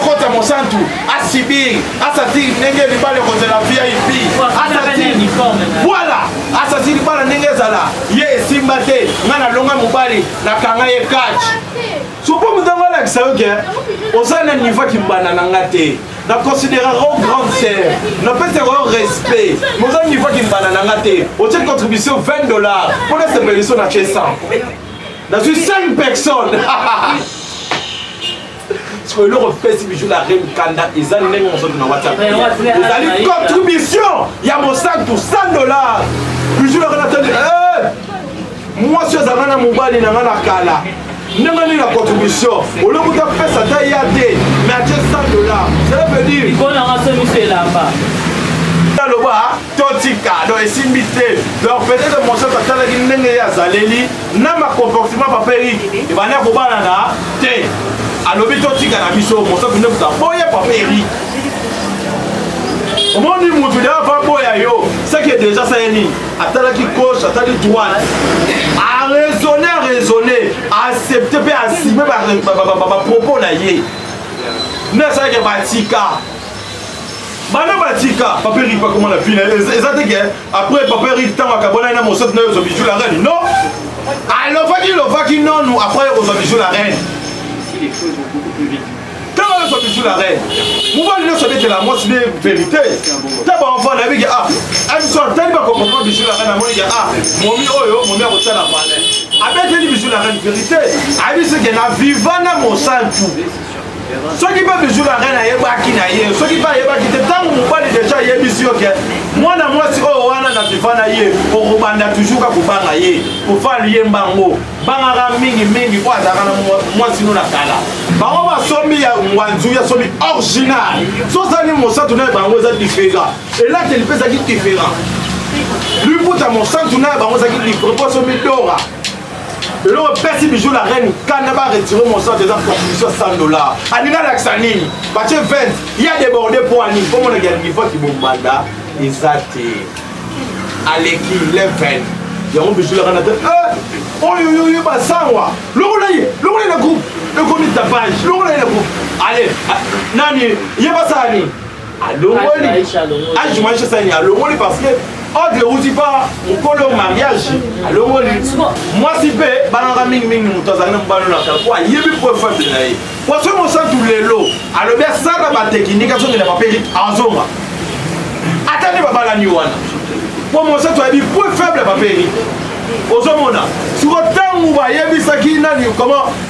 kota mosantu asibir asatiri ndenge libala ekozala vip asatiri voilà asatiri libala ndenge ezala ye esimba te ngai nalonga mobali nakanga ye catch sopo moto yango alakisa yo ke oza na niveau kimbanda na nga te na considéraka o grande sœur napesaka yo respect moza niveau kimbanda na nga te otie contribution 20 dollars mpo nasepeliso na tie 100 nazwi 5 personnes sikoyo eloko mpesi bijou la reine kanda eza ndenge mosusu na whatsapp ezali contribution ya mosantu 100 dollars bijou la reine atandi eh! mwasi azanga na mobali na nga na kala ndenge nini na contribution olokuta pesa ata ya te mais atie 100 dollars cela veut dire aloba totika donc esimbi te donc peut-être mosatu atalaki ndenge ye azaleli na bacomportement papa erik ebandi ya kobalana te alobi totika na biso mosatu nde kuta boya papa erik omoni motu deya baboya yo seke deja saye nini atalaki gauche atali droite araisonne araisonne aaccepte mpe asime bapropos na ye nde asalaki batika bana batika papa erik bakoma na pina eza te ke après papa erik ntango akabwana na mosatu na yo ozwa bijou la reine non alobaki lobaki nonu après ozwa bijou la reine ntango ozwa bijou la reine mobali nyonso abetela mwasi nde verité ta baenfant nayebi ke ah abiso atali bakokomprendre bijou la reine amoni ke ah momi oyo momi akotala valeur abeteli bijou la reine verité ayebisi ke na viva na mosantu soki mpe bijou la reine ayebaki na ye soki mpe ayebaki te ntango mobali deja ayebisi yo ke mwana mwasi oyo wana na viva na ye okobanda toujours kakobanga ye kofal ye mbango bangaka mingi mingi oyo azalaka na mwasi no na kala bango basombi ya ngwanzu ya somi original sozali mosantu na bango eza diferent elateli mpe ezalaki diferent liputa mosantu na bango ezalaki diferent mpo somi dora eloko pesi bijou la reine kanda ba retire monsanto eza contribution 100 dollar alinga lakisa nini batie 20 ya deborde poani omonaki ya niveau kibombanda eza te aleki level yango bijou la reine ate eh, oyo yo yo basangwa lokola ye lokola ye na groupe ekomi tapage lokola ye na groupe ale ah, nani ye basala nini alongoli age maisha sani alongoli parce que ordre euti pa mokolo mariage alongoli mwasi mpe banaka mingimingi moto azali na mobali na kala mpo ayebi mpo efambe na ye mpo soki mosantu lelo alobi asala batekinike azongela bapeli azonga ata nde babalani wana mpo mosantu ayebi mpo faible bapeli ozomona siko ntango bayebisaki nani koma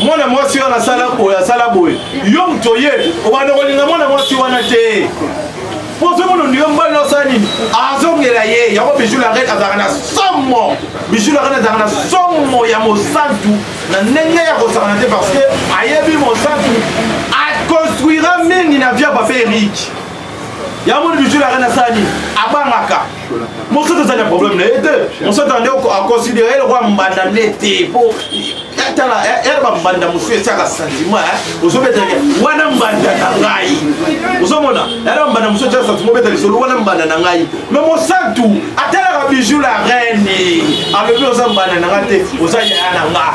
mwana mwasi wana asala boye asala boye yo moto oye obanda kolinga mwana mwasi wana te mpo ozomona ondima mobali na osala nini azongela ye yango bijou la reine azalaka na somo bijou la reine azalaka na somo ya mosantu na ndenge ya kosakana te parce que ayebi mosantu akonstruira mingi na via bape eriki yango moni bijou la reine asala nini abangaka mosusu tozali na problème na ye te mosusu tozali aconsidere eloko ya mbanda nde te po tala ere bambanda mosusu esiaka sentiment ozobetake wana mbanda na ngai ozomona ere bambanda mosusu esiaka sentiment obeta lisolo wana mbanda na ngai me mosantu atalaka bijou la reine alobi oza mbanda na ngai te oza yaya na nga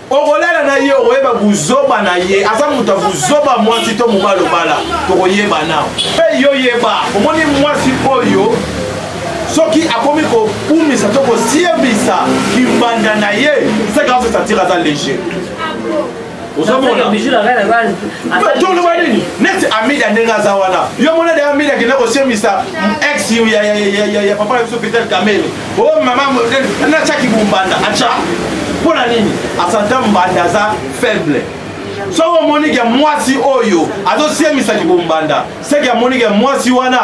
okolala na ye okoyeba buzoba na ye aza moto ya buzoba mwasi to mobali obala tokoyeba nao mpe yo yeba omoni mwasi oyo soki akomi kokumisa to kosiebisa kimbanda na ye seka azo satire aza leger toloba nini neti amida ndenge aza wana yo mona de amida akenda kosiemisa ex ya papa na biso vital kamele o oh, mama natya kibumbanda atya mpo na nini asanta mbanda aza faible soki omoni ke mwasi oyo azosemisa kibombanda seke amoni ke mwasi wana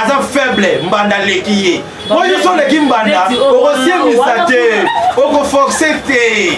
aza faible mbanda aleki ye po yo so oleki mbanda okosemisa te okoforce te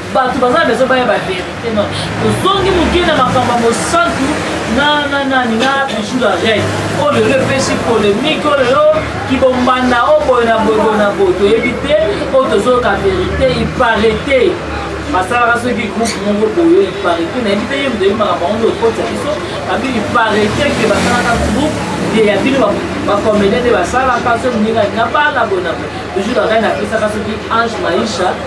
bato baza na besoin baya baverité non ozongi moke na makambo ya mosantu na na nani na bijou la reine oyo oh, lelo epesi polémique oyo oh, lelo kibombanda o oh, boye na boye boye na boye toyebi te oyo tozoyoka verité iparete basalaka soki groupe moko boye iparete nayebi te ye moto yebi makambo yango nde okotisa biso abi iparete ke basalaka groupe ye ya bino bakomede nde basalaka soki moninga na bana boye na boye bijou la reine apesaka soki ange maisha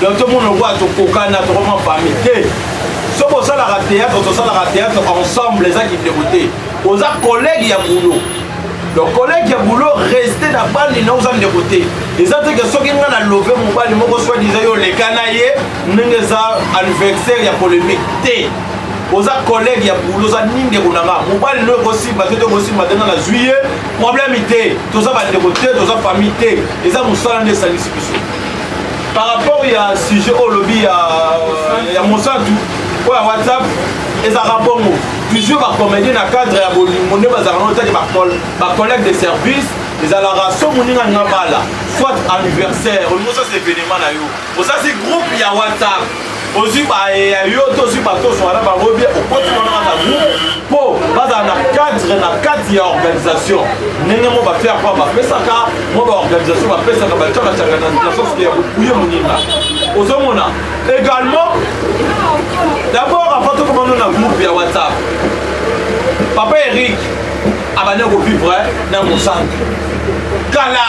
donc tomona lokola tokokana tokoma famille te soki osalaka théâtre tosalaka théâtre ensemble eza kindeko te oza collègue ya boulot donc collègue ya boulot reste na bandi na oza ndeko te eza te ke soki ngai na love mobali moko swadisa yo oleka na ye ndenge eza anniversaire ya polémique te oza collègue ya boulot oza ni ndeko na nga mobali no ekosimba te to ekosimba te nga nazwi ye problème te toza bandeko te toza famille te eza mosala nde esangisi biso par rapport ya sujet oyo olobi ya mosantu oyo ya whatsapp ezalaka bongo toujours bacomédie na cadre ya bolingo nde bazalaka nao tali bacollègue de service ezalaka so moninga ninga bala soit anniversaire olingi osasa événement na yo osasi groupe ya whatsapp ozwi baye ya yo to ozwi bato ozwa na bango bie okoti wana na groupe mpo bazala na cadre na kati ya organisation ndenge mo bafere mpo bapesaka mo baorganisation bapesaka bacakacaka na nasoske ya bokuye moninga ozomona également d'abord avant tokomano na groupe ya whatsapp papa eric abandi kovivre na mosantu kala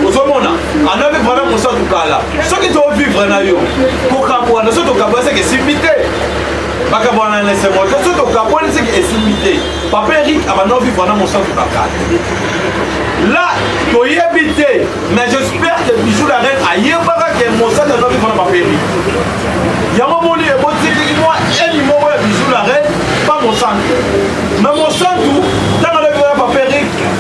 ozomona anda mpe vrana mosatu kala soki tovivre na yo kokabwana so tokabwa seke esimbi te bakabwana na esengo te so tokabwani seke esimbi te papa erik abanda ovivre na mosatu na kala la toyebi te mais j'espère que bijou la reine ayebaka ke mosatu aza ovivre na papa erik yango moni ebotiki mwa eni moko ya bijou la reine pa mosantu na mosantu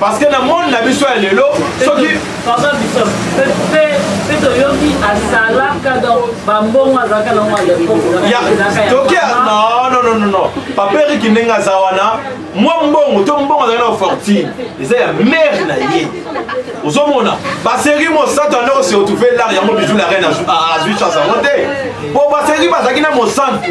parce que na monde na biso ya lelo soki mpe toyoki asalaka donc bambongo azalaka nango alepotoki nononono papa eriki ndenge aza wana mwa mbongo to mbongo azalaki na fortune eza ya mare na ye ozomona baseri mosantu ande oseotrouve lar yango bijou la reine azwi chance yango te mpo baseri bazalaki na mosantu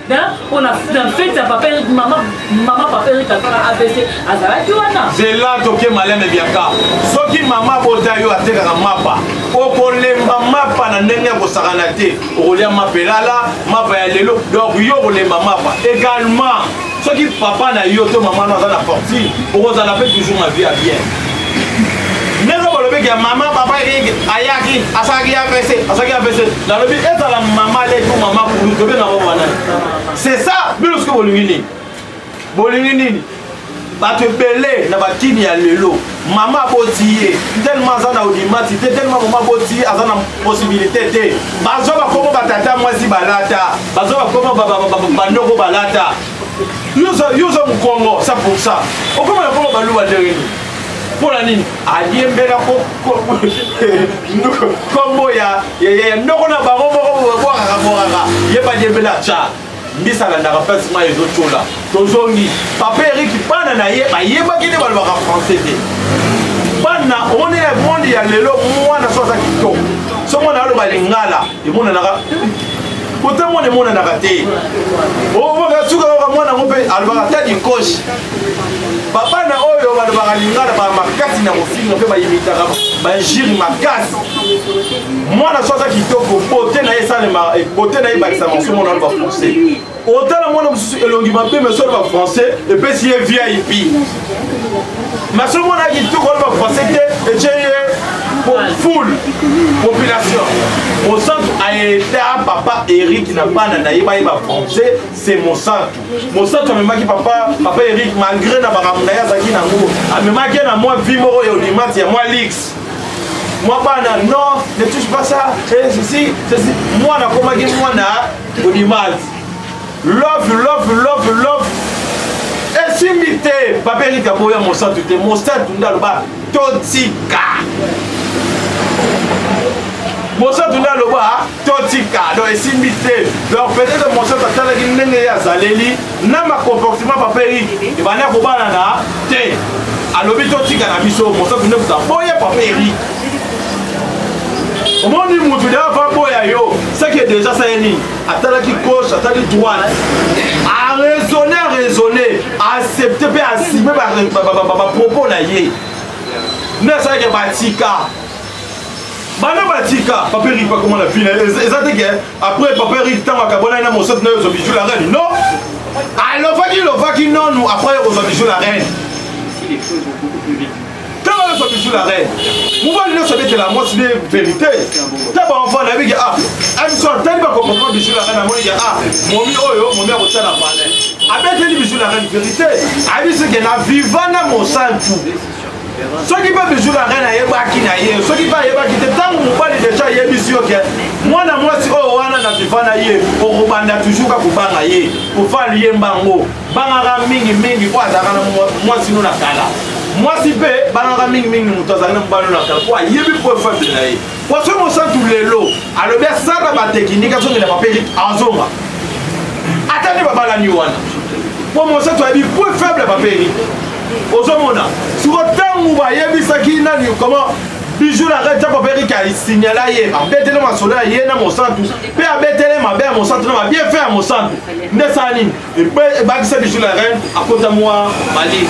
mpo na fete ya papa erik mama mama papa erik asala abc azalaki wana zela toke maleme biaka soki mama bota yo atekaka mapa okolemba mapa na ndenge ya kosakana te okolia mapa elala mapa ya lelo donc yo okolemba mapa également soki papa na yo to mama no aza na fortune okozala mpe toujours na vie ya bien ndenge bolobi ke mama papa eke ayaki asalaki apc asalaki apc nalobi ezala mama letu mama kulu tobenga bango wana c'est ça bino soki bolingi nini bolingi nini bato ebele na bakini ya lelo mama aboti ye telema aza na odimati te telema mama aboti ye aza na posibilité te bazwa bakomo batata mwasi balata bazwa bakomo bandoko balata yo oza mokongo 100 okoma na kongo baluba ndenge nini mpo na nini aliembela nkombo ya ndoko na bango moko bwakaka bwakaka ye baliembela ca mbisa alandaka mpasi mai ezotyola tozongi papa eriki bana na ye bayebaki nde balobaka français te bana omoni na monde ya lelo mwana so aza kitoko so mwana aloba lingala emonanaka kota mwana emonanaka te obaka oh, suka kaka mwana yango mpe alobaka ta dikoshi papa na oyo balobaka lingala ba makasi na kofinga mpe bayimitaka bajiri makasi mwana so aza kitoko bote na ye esalema bote na ye ebakisaka mosomo na bafrancais otala mwana mosusu elongi mabe mais solo ba français epesi ye vip mais soki mwana yaki kitoko wana ba français te etye ye full population mosantu aeta papa eric na bana na ye bayeba français se mosantu mosantu amemaki papa papa eric malgré na makambo na ye azalaki nango amemaki ye na mwa vi moko ya olimati ya mwa lix mwa bana non ne touche pas ça et ceci ceci mwana akomaki mwana Good image. Love, love, love, love. esimbi te baberika boya mosantu te mosantu nde aloba totika mosantu nde aloba totika donc esimbi te donc peut-être mosantu atalaki ndenge ye azaleli na ma comportement papa eric ebanda kobalana te alobi totika na biso moto kende kuta boya papa eric omoni motu de ava boya yo seke deja sa ye nini atalaki gauche atali droite araisonne araisonne aaccepte mpe asime bapropos na ye nde asalaki batika bana batika paperi bakoma na vile eza te ke Après papa Eric tango akabolaki na mosatu nayo Bijou la reine. Non. Alobaki lobaki non nous après kozwa Bijou la reine. Tango yo Bijou la reine. Mobali nyonso abetela mwasi ne verite. Ta ba enfant na biki ah. Amso tali ba comprendre Bijou la reine amoni ya ah. Momi oyo momi akotya na palais. Abeteli Bijou la reine verite. Abisi ke na viva na mosantu. soki mpe bijou na reine ayebaki na ye soki mpe ayebaki te ntango mobali deja ayebisi yo ke mwana mwasi oyo wana na viva na ye okobanda toujours kakobanga ye kofala liyemba yango bangaka mingi mingi oyo azalaka na mwasi no na kala mwasi mpe bangaka mingi mingi moto azalaki na mobali no na kala mpo ayebi mpo efabile na ye Poisson Mosantu lelo alobi asala batekinike azongela bapeli azonga ata nde babalani wana mpo Mosantu ayebi point faible bapeli ozomona siko ntango bayebisaki nani comment bijou la reine ntango baperiki asignala ye abetele masolo ya ye na mosantu mpe abetele mabe ya mosantu na babie fe ya mosantu nde esala nini ebakisa bijou la reine akota mwa malili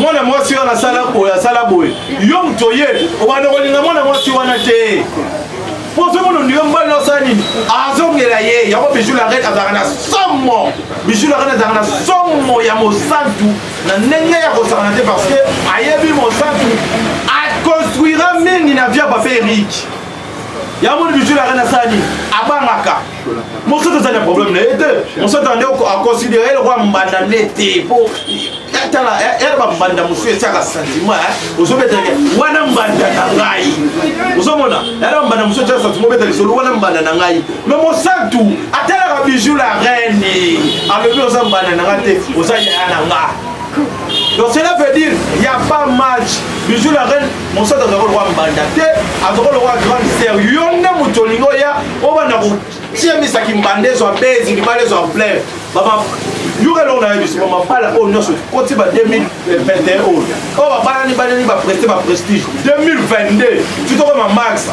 mwana mwasi wana asala boye asala boye yo moto oye obanda kolinga mwana mwasi wana te mpo ozomona ondima mobali na osala nini azongela ye yango bijou la reine azalaka na somo bijou la reine azalaka na somo ya mosantu na ndenge ya kosakana te parce que ayebi mosantu akonstruira mingi na via papa erike yango moni bijou la reine asala nini abangaka mosusu ozali na problème na ye te mosusu ozali aconsidere lokola mbanda nde te po tala yala bambanda mosusu esiaka sentiment ozobetake wana mbanda na ngai ozomona yala bambanda mosusu esiaka sentiment obeta lisolo wana mbanda na ngai me mosantu atalaka bijou la reine alobi oza mbanda na ngai te oza yaya na nga donc cela veut dire ya pas match bijou la reine Mosaka azalaka lokola mbanda te, azalaka lokola grande sœur. Yo nde moto olingi oya obanda kotia misaki mbanda ezwa bezi libala ezwa ampleur baba yoka eloko na yebiso bamabala oyo nyonso koti ba 2021 oyo oyo babalani baleli bapreste baprestige 2022 titokoma maxa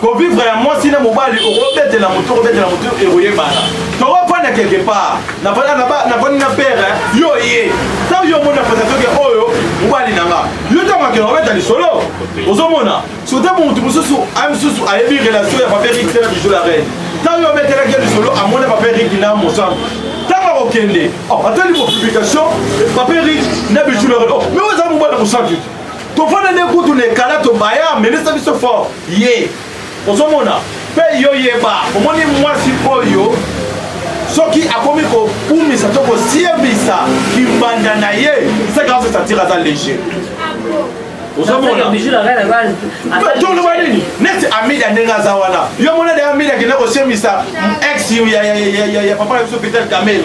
kovivre ya mwasi na mobali okobetela motu okobetela motu ekoyebana tokofanda quelque part nafandi na pere yo ye ntango yo omoni na presatoke oyo mobali na nga yo ntango akenda kobeta lisolo ozomona sote motu mosusu aye mosusu ayebi relation ya papier riki tena bijou la reine ntango yo obetelaki lisolo amoni papier riki na mosantu ntango akokende oh, atali bopublication papier riki na bijou la reine oh, me oza mobali mosantu tofanda nde kutu na ekala tobaya amelisa biso fort ye ozomona mpe yo yeba omoni mwasi oyo soki akomi kokumisa to kosiebisa kimbanda na ye seka osesatire aza leger ozomona nini neti amida ndenge aza wana yo mona de amida akenda kosiemisa ex ya papa na biso peter kamele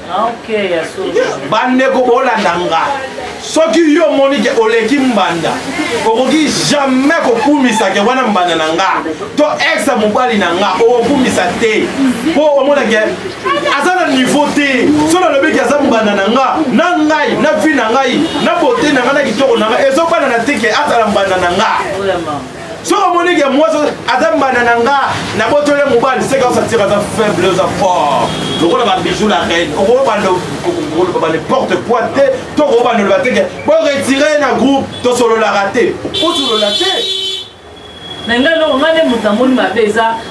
bandeko bolanda nga soki yo omoni ke oleki mbanda okoki jamais kokumisa ke wana mbanda na nga to ex ya mobali na nga okokumisa te mpo omona ke aza na niveau te so nalobi ke aza mbanda na nga na ngai na vi na ngai na bote na ngai na kitoko na ngai ezobanana te ke azala mbanda na nga soki omoni ke mwasi aza mbanda na nga na botole mobali seka osatira aza faible oza fort lokola babijou la reine okobanda koloba ba n'importe quoi te to okobanda oloba te ke boretire na groupe tosololaka te osolola te na ngai eloko ngai nde moto namoni mabe eza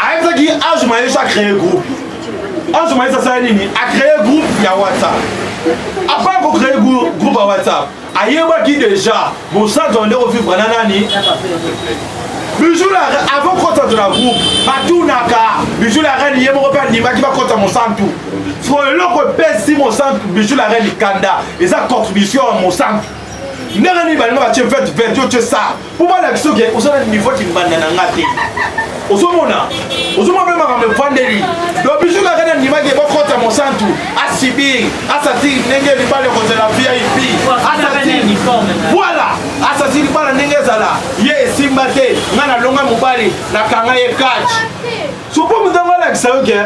ayebisaki age maesho acree groupe age maesho asala nini acree groupe ya whatsapp apart kocree groupe ya whatsapp ayebaki déjà mosantu ande kovivre na nani bijou la avant kota to na groupe batunaka bijou la reine ye moko mpe andimaki bakota mosantu fo eloko epesi mosantu bijou la reine kanda eza contribution ya mosantu ndenge nini balinga batie vete vete yo tie sar mpo balakisa oke oza na niveau kimbanda na nga te ozomona ozomona mpe makambo efandeli do biso kaka na ndimaki bokota mosantu asibir asati ndenge libala ekozala vip asati voilà asati libala ndenge ezala ye esimba te nga nalonga mobali nakanga ye catch sopo motango alakisa yo ke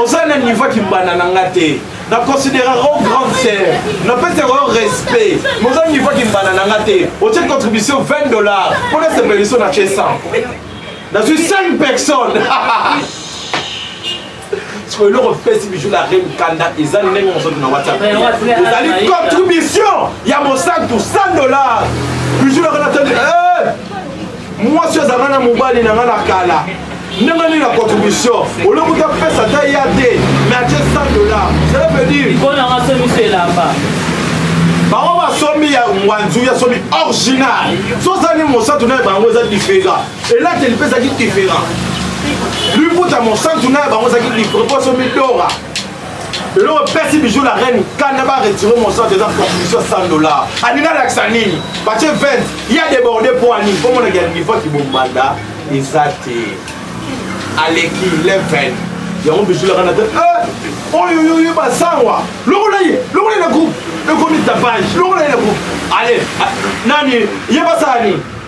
oza na niveau kimbanda na nga te na considérera o grande sœur na pesa yango yo respect moza niveau kimbana na nga te otie contribution 20 dollars mpo na sepeliso na tie 100 nazwi 5 personnes sikoyo eloko mpesi bijou la reine kanda eza ndenge mosusu na whatsapp ezali contribution ya mosantu 100 dollars bijou la reine atandi mwasi azanga na mobali na nga na kala ndenge nini na contribution olokuta pesa ata ya te mais atie 100 dollar cela veut dire ikonanga somiso elamba bango basombi ya ngwanzu ya somi original sozali mosantu na bango eza diferent elateli mpe ezalaki diferent liputa mosantu na bango ezalaki diferent mpo somi dora eloko pesi bijou la reine kanda ba retire mosante eza contribution 100 dollar alingi alakisa nini batie 20 ya deborde mpo ani mpo monaki ya niveau kibomanda eza te aleki level yango bijou la reine te oyo yo yo basangwa lokola ye lokola ye na groupe ekomi tapage lokola ye na groupe ale nani ye basala nini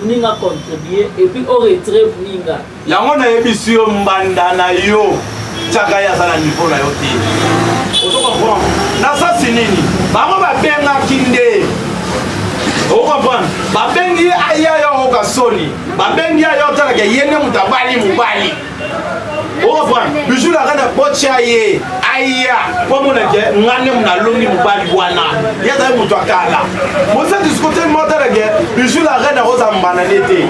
muninga contribue et puis au retrait muninga yango nayebisi yo mbanda na yo tiaka ye aza na niveau na yo te ozo comprendre na sasi nini bango babengaki nde okomprendre babengi ye aya yo okoka soni babengi ye aya otalaka ye nde moto abali mobali okomprendre bijou naka na botya ye aya po amona ke nga nde nalongi mobali wana ye azali moto ya kala mosadiskote motala ke bijou la reine akozala mbana ne te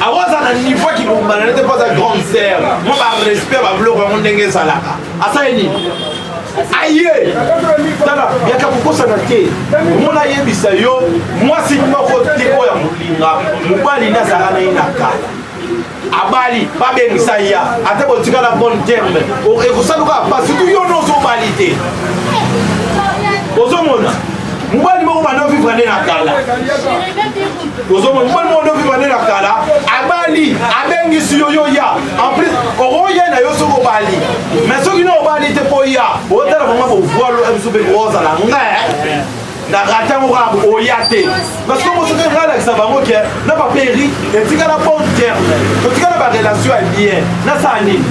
akozala na niveau ya kibombana ne te mpo aza grande sere mo barespect babiloko yango ndenge ezalaka asali nini aye tala yaka kokosana te omona ayebisa yo mwasi moko te oyo ya molinga mobali nde azalaka na ye na kala abali babengisa ya ata botikala bonne terme ekosaluka pasi tu yo no ozobali te ozomona mobali moko banda ovivre nde na kala ozomona mobali moko nde ovivre nde na kala abali abengisi yo yo ya en plus okoya na yo soki obali mais soki na obali te mpo ya otala vraimen bovwalo biso mpe kozala ngai na rate yango kaka oya te parce que mosoki ngai alakisa bango ke na baperi etikala bon terme totikala barelation ya bien nasala nini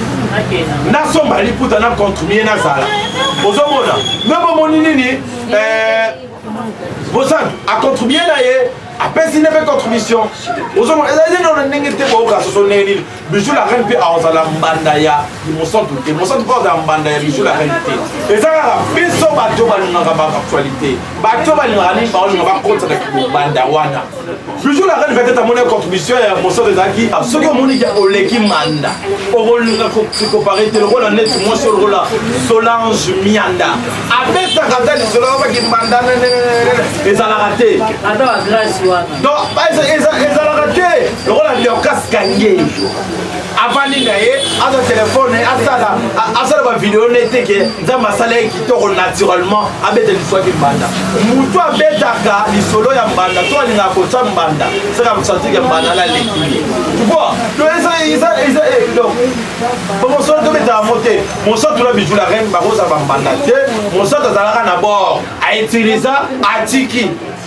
nasomba liputa na contribue nazala ozomona me bomoni nini eh, bosan acontribue na ye apesi nde mpe contribution ozomona ezali nini ona ndenge te boyoka soso ndenge nini bijou la reine mpe azala mbanda ya mosantu te mosantu mpe azala mbanda ya bijou la reine te eza kaka biso bato balingaka baactualité bato balingaka nini baolinga bakotisa na kibanda wana bijou la reine peut-être amoni contribution ya mosantu ezalaki soki omoni oleki manda okolinga kokopare te lokola neti mwasi oyo lokola solange mianda abetaka ata lisolo abaki manda ezalaka te donc ezalaka te lokola dorcas kange avandi na ye aza telefone asala asala bavideo ne te ke nzambe asala ye kitoko naturellement abeta liswaki mbanda motu abetaka lisolo ya mbanda to alingaka kotya mbanda saka mosantike mbanda na leki ye tupo to eza donc bamosolo tobetaka mo te mosantu na bijula rene bakozala bambanda te mosantu azalaka na bord autiliza atiki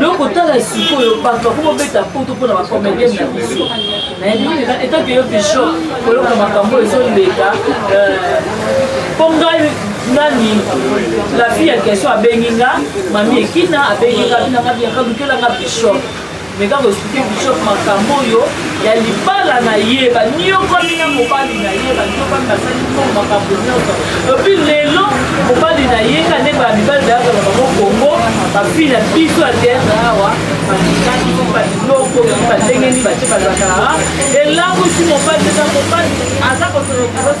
loko tala sikoyo bato bako bobeta poto mpona bacomédien na biso etanke yo bichon koloko makambo ezoleka mpo euh, ngai nani la fille ya question abengi nga mami ekina abengi nga binanga biaka lukelanga bichon meka koexplike bishop makambo oyo ya libala na ye baniokami na mobali na ye baniokami basali ntongo makambo nyonso epi lelo mobali na ye nga nde baya mibali bayaka na bango kongo bafi na biso ya teatre awa batikaki baloko balengeni batie bazaka elamusi mobali eza mobali aza kosolokolos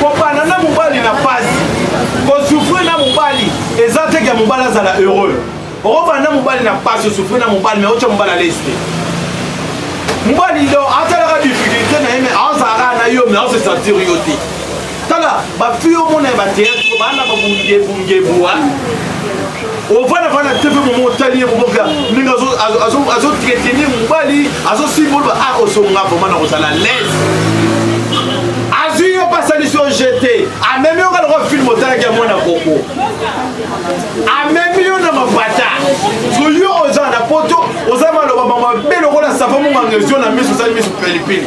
kobanda na mobali na pasi kosufrir na mobali eza te ke mobali azala heureux okobanda na mobali na pasi osufrir na mobali me otya mobali alesi te mobali do atalaka difficulté na ye me azalaka na yo me aose sentir yo te tala bafille omona ya bateatre baana babungebungebua ovanda vana te mpe momo otali ye moboka ndenge azotretene mobali azosimbolba a ah, osonga vraimen na kozala lese azwi yo mpe asalisi yo jete amemi yo nga lokwa filme otalaki ya mwana koko amemi yo na mabata so yo oza na poto oza maloba mabe lokola savo monganga ezio na miso osali miso pelipili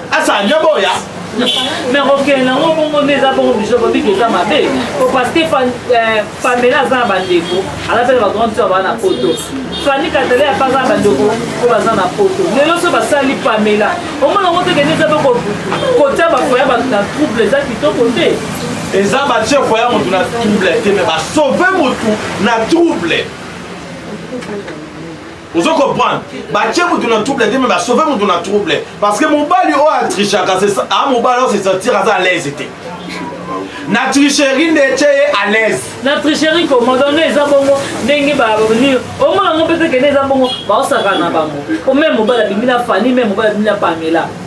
asa nde boya me kokende yango bongo nde eza bongo biso bobi toza mabe po parce que euh, pamela aza na bandeko aza mpe na bagrande sœur baa na poto fani katale apa aza na bandeko oyo baza na poto lelo so basali pamela omona yango te kende eza mpe kotya bafoya bato na trouble eza kitoko te eza batie foya motu na trouble te me basauve motu na trouble ozo comprendre batie moto na trouble te me basauve moto na trouble parce que mobali oyo atrichaka a mobali oyo sesentir aza alaise te na tricherie nde etye ye alaise na tricherie komodonno eza bongo ndenge banini omona ngo mpe tekende eza bongo baosaka na bango o meme mobali abimi na fani meme mobali abimi na pamela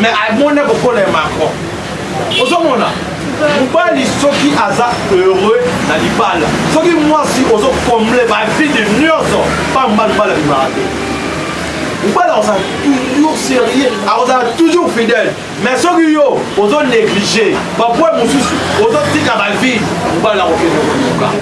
mais amona kokola ya macron ozomona mobali soki aza heureux na libala soki mwasi ozokomble bavide nyonso pamba libala bimaka te mobali akozala toujours sérieux akozala toujours fidèle mais soki yo ozo néglige bapoint mosusu ozotika bavide mobali akokende koyoka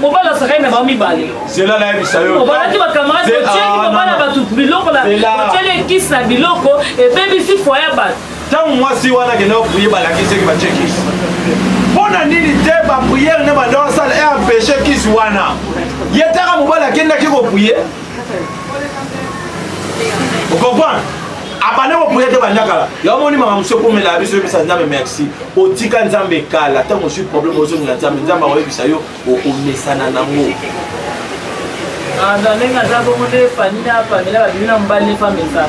mobali azalaki na bango mibale obalaki bakamarade otyeli mama na bato biloko otyeli ekisi na biloko ebebisi fwa ya bato ntango mwasi wana akenda kopriye balakisaki batye kisi mpo na nini te bapriere nde bandoko asala e empeshe kisi wana ye taka mobali akendaki kopriye okomprendre abanda kopuya te banda kala yango moni makambo soki omela ya biso oyebisa nzambe merci otika nzambe kala ntango ozwi problème ozongela nzambe nzambe akoyebisa yo okomesana nango ah, ndenge aza bongo nde fani na pamela babimi na mobali nefamesana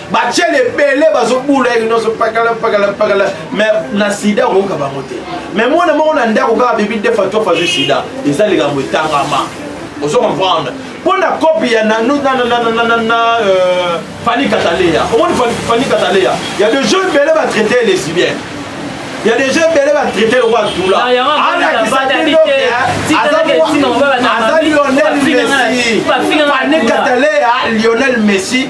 batiele ebele bazobula ye nyonso pakala pakala pakala me na sida okoyoka bango te me mwana moko na ndako kaka bibi defa to fazwi sida eza likambo etangama ozo comprendre mpo na kopi ya fani kataleya omoni fani kataleya ya de jeu ebele batraite ye lesibien ya de jeu ebele batraite yango atula alakisazali lionel messi fani kataleya lionel messi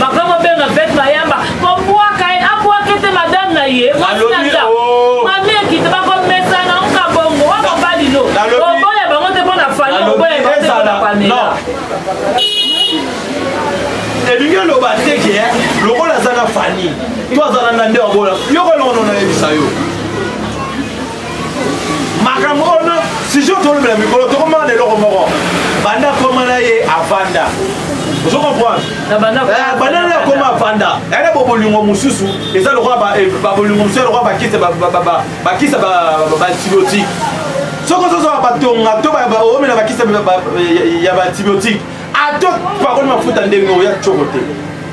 Papa mobenga fete bayamba kobwaka ye abwaka ete madame na ye mwasinaza oh. mami ekita bakomesana oka bongo wa mobali no oboya bango te mpo na fali oboya bango te mpo na pamela elingi oloba te ke eh, lokola aza na fani to aza na nande wabola yoko elongono nayebisa yo makambo wana sijo tolobela mikolo tokomaka na eloko moko banda koma na ye avanda ozo comprendre eh, banda na akoma avanda yaya eh, bobolingo mosusu eza lokola eh, babolingo mosusu lokola bakisa bakisa baantibiotique soki ozozwa batonga to baomela bakisa ya baantibiotique ato pakoli mafuta ndenge oya coko te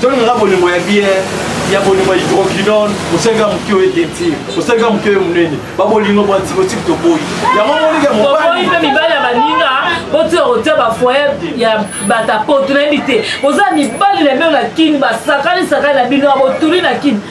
Tolonga nga bolingo ya bière ya bolingo ya hydroquinone osalika moke oyo etenti osalika moke oyo monene babolingo bwa antibiotique toboyi yango moninga mobali mpe mibali ya baninga botika kotia bafoye ya batapoto nayebi te oza mibali na bino na kini basakani sakani na bino abotuli na kini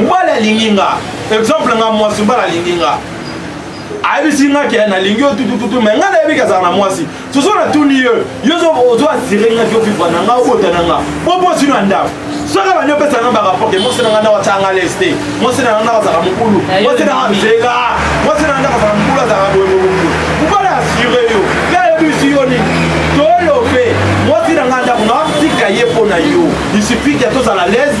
mobali alingi nga exemple nga mwasi mobali alingi nga ayebisi nga ke nalingi yo tutututu mai ngai nayebi kazala na mwasi soso natuni yo yo ozo asire nga ke ovivra na nga obota na nga bobosi na ndako soki abandi opesa nga barapport ke mwasi na nga ndako atyanga les te mwasi na nga ndako azala mokulu mwasi na nga zela mwasi na nga ndako azala mokulu azala boyemokokulu mobali asire yo ngai ayebisi yo nini tolobe mwasi na nga ndako naotika ye mpo na yo disipike tozala lese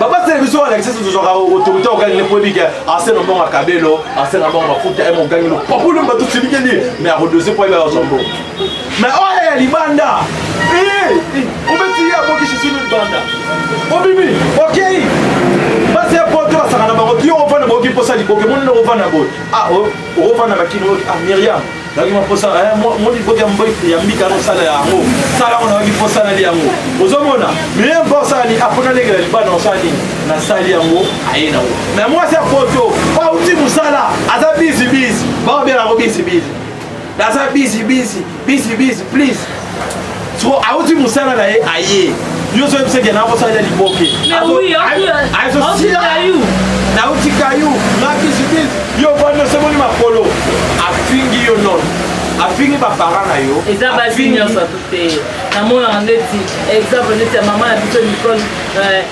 baba television walakisa soso tozwaka autorité ogangi ne poyebi ke asenga mbongo ya kabelo asenga mbongo mafuta eme ogangi lo papulu mbatu silikeli me akodose po ayeba azwa mbongo me oyo ya libanda obeti ye abokisi sino libanda obimi okei basi ya poto basaka na bango yo ovanda baoki mposa liboke moni na ovanda boye ah, okofanda bakini oyoki ah miriam nayoki maposa eh, moni koti ya mboi ya mbika yango sala yango sala yango nayoki mposa nali yango ozomona meye mpo osala nini apo nalekela libanda osala nini nasali yango aye nango me mwasi ya poto auti mosala aza bizi bizi baobela yango bizi bizi aza bizi bizi bizi bizi please soko auti mosala na ye aye yo ozo yebisa ekenda akosalela liboke nauti kayu makisitis yo vandi osemoni makolo afingi yo nono afingi bapara na yo eza basi nyonso te namonaka ndeti exemple ndeti ya mama na biso nicole euh,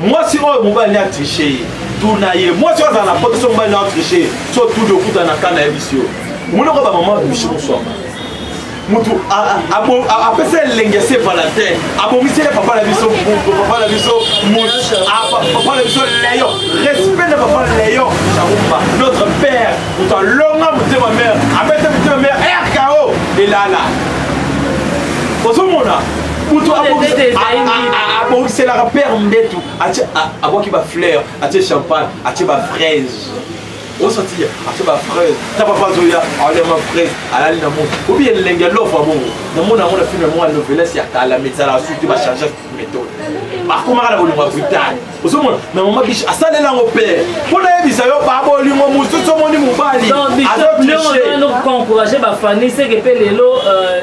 mwasi oyo mobali a triche ye tuna ye mwasi oyo azala na poto so mobali na triche ye so tudi okuta na kana ya bisi yo omonoko bamama bishi moswama mutu apesa elenge se valentin abongiseli papa na biso mbuko papa na biso papa na biso leyo respect na papa leyo chaumba notre père moto alonga motema mare abeta motema mare rko elala ozomona moto abongiselaka père mbetu abwaki bafleur atie champagne atie bafraise osati atie bafraise ta papa azoya aolia ma fraise alali na moto obi elenge lofa bongo namona yango na filme moko ya novelas ya kala mais ezalaka suki te bachange méthode bakomaka na bolingo ya brutale ozomona na mama biche asalela yango pere mpo nayebisa yo babolingo mosusu omoni mobali azoencourage bafani seke mpe lelo euh,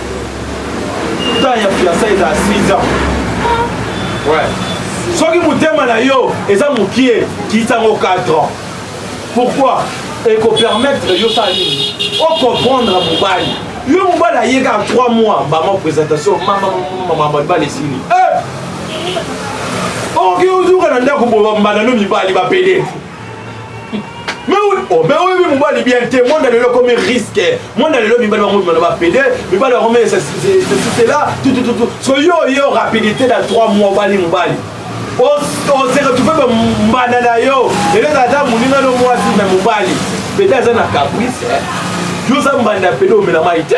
temps ya fiansa ezala 6 ans ouais. soki motema na yo eza mokie kisango 4 ans pourquoi ekopermettre yo sala nini okomprendre mobali yo mobali aye kaka 3 mois bama présentation mamamamamamabali esili eh! okoki ozuka na ndako boba mbanda no mibali bapede Mais oui, oh, mais oui, oui, mobali bien te, monde lelo comme risque. Monde lelo mibali bango mibali ba pede, mibali bango mais c'est c'est là, tout tout tout. So yo yo rapidité dans 3 mois bali mobali. O o se retrouver ba mbana na yo. Ele na da muninga no mwasi mais mobali. Pede aza na caprice. Yo za mbanda pede omela mai te.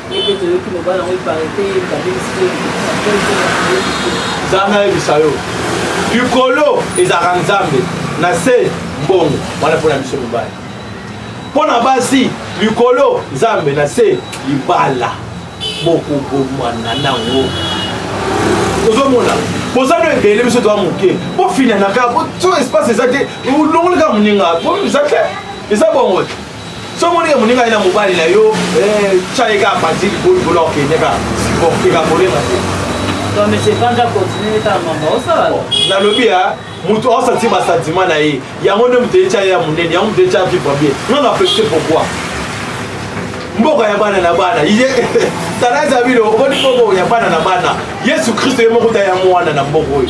Bebe toyoki mobali yango ipare te babebisi te nzambe ayebisa yo likolo ezalaka nzambe na se mbongo wana mpo na biso mibali mpo na basi likolo nzambe na se libala bokobomana nango ozomona boza no ebele biso toa moke bofinanaka so espace eza te olongoli kaka moninga eza te eza bongo soki omoni ke moninga ye na mobali na yo eh, tya ye kaka panzi likolo likolo akende kaka siporte kaka kolema te nalobi ya moto aosanti basantima na ye yango nde moto etya ye ya monene yango moto etya vivre bien non na peste pourquoi mboka ya bana na bana tala zabilo omoni mboka ya bana na bana yesu kristo ye moko ta ya mwana na mboka oyo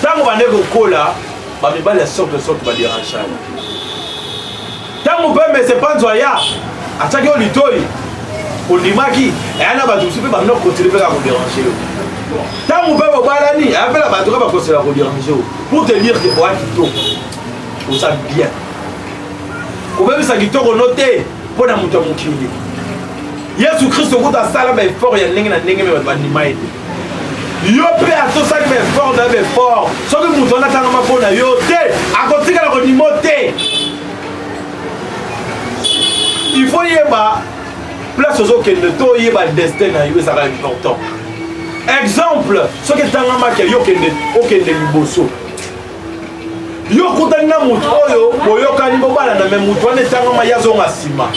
ntango bande kokola bamibali ya sorte de sorte baderangani ntango mpe mese panzo aya atiaki yo litoi ondimaki eya na bato mosusu mpe bamina kokotili mpe kaka koderange yo ntango mpe bobalani eya mpe na bato ka bakosela koderange yo pour te dire ke oya kitoko oza bien kobebisa kitoko no te mpo na moto ya mokili yesu kristo kutu asala baefort ya ndenge na ndenge me bato bandima ye te yo mpe atosaki baeffort na baeffort soki moto wana atangama mpo na yo te akotikala konimo te il faut yeba place ozokende to oyeba destin na yo ezalaka important exemple soki etangamaki yo okende liboso yo okutani na moto oyo boyokani bobalana me moto wana etangama ye azonga nsima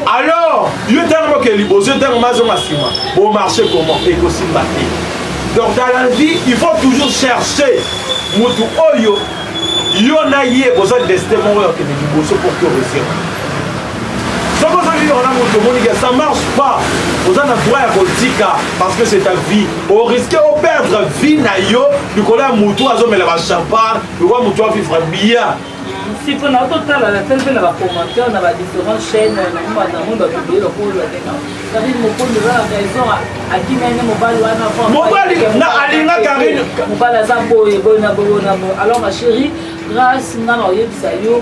alors yo ntango oke liboso ntango ma azonga nsima bomarche comment ekosimba te donc dans la vie il faut toujours chercher moto oyo yo na ye boza destin moko ya kende liboso pour que oresema soki ozongi kaka na moto omoni ke ça marche pas oza na droit ya kotika parce que c'est ta vie oriske operdre vie na yo likolo ya motu azomela bachampagne lokola motu avivre bien siko na totala na tali mpe na bacommentaire na badifférent chaîne namoi bato ebele bakolola te karine mokondi oza na raison akimi ane mobali wana mobali na alinga karine mobali aza boye boye na boye na boye alors ma chérie grâce nga na oyebisa yo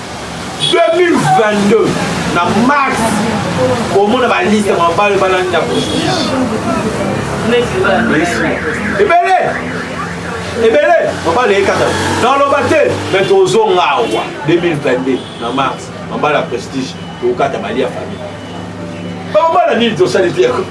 2022 na mars komona baliste mabale balandi na prestige ebele ebele mabale ekata naloba te me tozonga awa 2022 na mars mabale ya prestige tokokata bali ya famille bamabala nini tosali te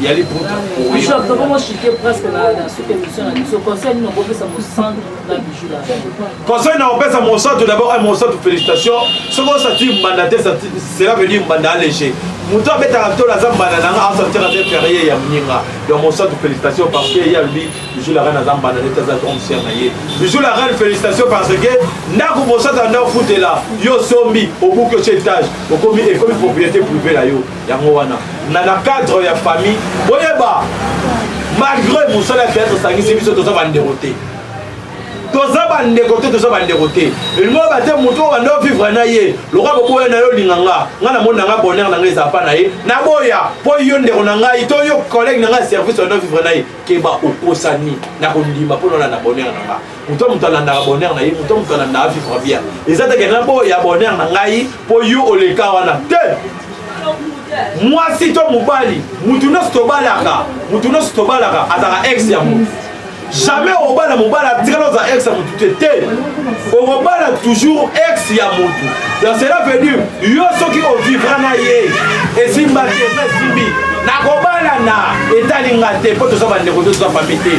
ya liputa conseil na opesa mosantu d'abord un mosantu félicitation soki osati mbanda te cela veut dire mbanda alege moto abetaka ntolo aza mbanda nanga asantira te ferie ya mninga donc mosantu félicitation parce que ye alobi bijou la reine aza mbanda nete aza omsier na ye bijou la reine félicitation parce que ndako mosantu anda ofutela yo osombi obuki otie etage okomi ekomi propriété privé na yo yango wana na na cadre ya famille boyeba malgré mosala ya théâtre esangisi biso toza bandeko te toza bandeko te toza bandeko te elingo yeba te moto oyo banda ovivre na ye lokola boboya na yo olinga nga nga namoni na nga bonheur na nga eza pa na ye naboya mpo yo ndeko na ngai to yo collègue na ngai ya service banda ovivre na ye keba okosani na kondima mpo naolanda bonheur na nga moto moto alandaka bonheur na ye moto moto alandaka vivre bien eza teke na boya bonheur na ngai mpo yo oleka wana te mwasi to mobali motu nyonso tobalaka motu nyonso tobalaka azalaka ex ya motu jamais okobala mobali atikala oza ex ya motu te te okobala toujours ex ya motu donc cela veut dire yo soki ovivra na ye esimba te esimbi nakobalana etali nga te mpo toza bandeko to toza fami te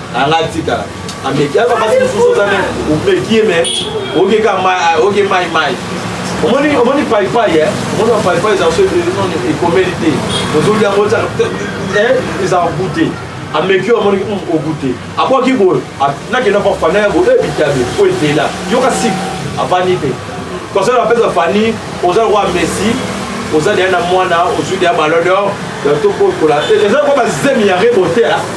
anga tika ameki aza basi mosusu oza me omeki ye me oke ka oke mai mai omoni omoni paipai e omoni bapaipai eza so ekomeli te ozoli yango eza eh, goute ameki yo amoniki hmm, ogoute akwaki boye nakenda mpa fana ya boye ebitabe eh, po etela yoka sik avandi te conseil apesa fani oza lokwa messi oza deya na mwana ozwi deya balodor tokokola eza lokwa bazemi ya rebote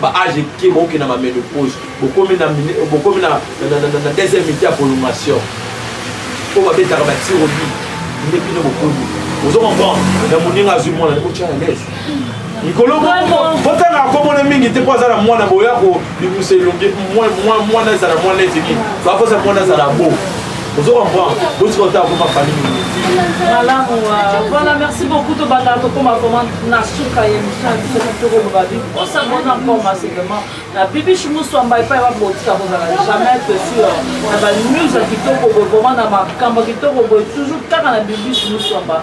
ba age eke bokokenda ba menopause bokomi na bokomi na na deuxième mite ya prolongation oyo babetaka batirobi nde bino bokomi ozo comprendre na moninga azwi mwana ekotya na lese likolo botanga akomona mingi te mpo aza na mwana boya kobimisa elongi mwana ezala mwana ete nini bakosa mwana azala bo ozo comprendre botika ota akoma fani malamu voilà merci beaucoup tobandaka tokoma vraiment na suka ya émission ya biso tokoloba bi osabona encore massivement na bibish muswamba epai babotika kozala jamais te sur na banews ya kitoko boye vraiment na makambo ya kitoko boye toujours kaka na bibish muswamba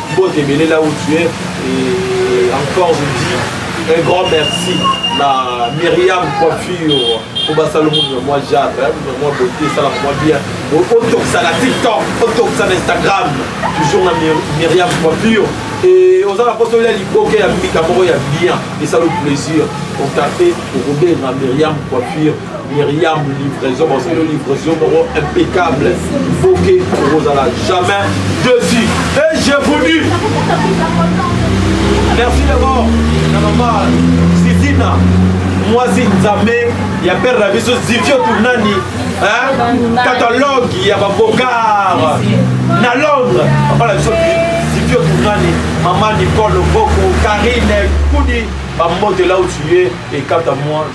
Mbote ebele là où tu es et encore je dis un grand merci na Myriam Coiffure kobasala mutu na mwa jave na mwa beauté esalaka mwa bien otokisa na tiktok otokisa na instagram toujours na Myriam Coiffure et oza na mposa olia liboke ya mbika moko ya bien esala plaisir contacte okobenga Myriam Coiffure Myriam livraison basali livraison moko impeccable boke okozala jamais desi et je vous dis merci d'abord na mama sizina mwasi nzambe ya pere na biso zivio tunani catalogue ya babokar na londres papa na biso zivio tunani mama nicole boko karine kudi bambotela otuye ekata mwa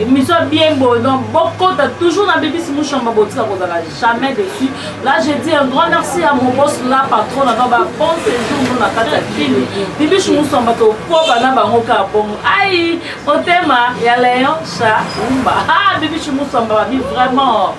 émission bien beau donc bokota toujours na bibisi mushamba botika kozala jamais dessus là je dis un grand merci à mon boss la patron na baba bon séjour no na kati ya kini bibishi mushamba tokoba na bango ka bongo ai motema ya leon sha umba ah bibishi mushamba babi vraiment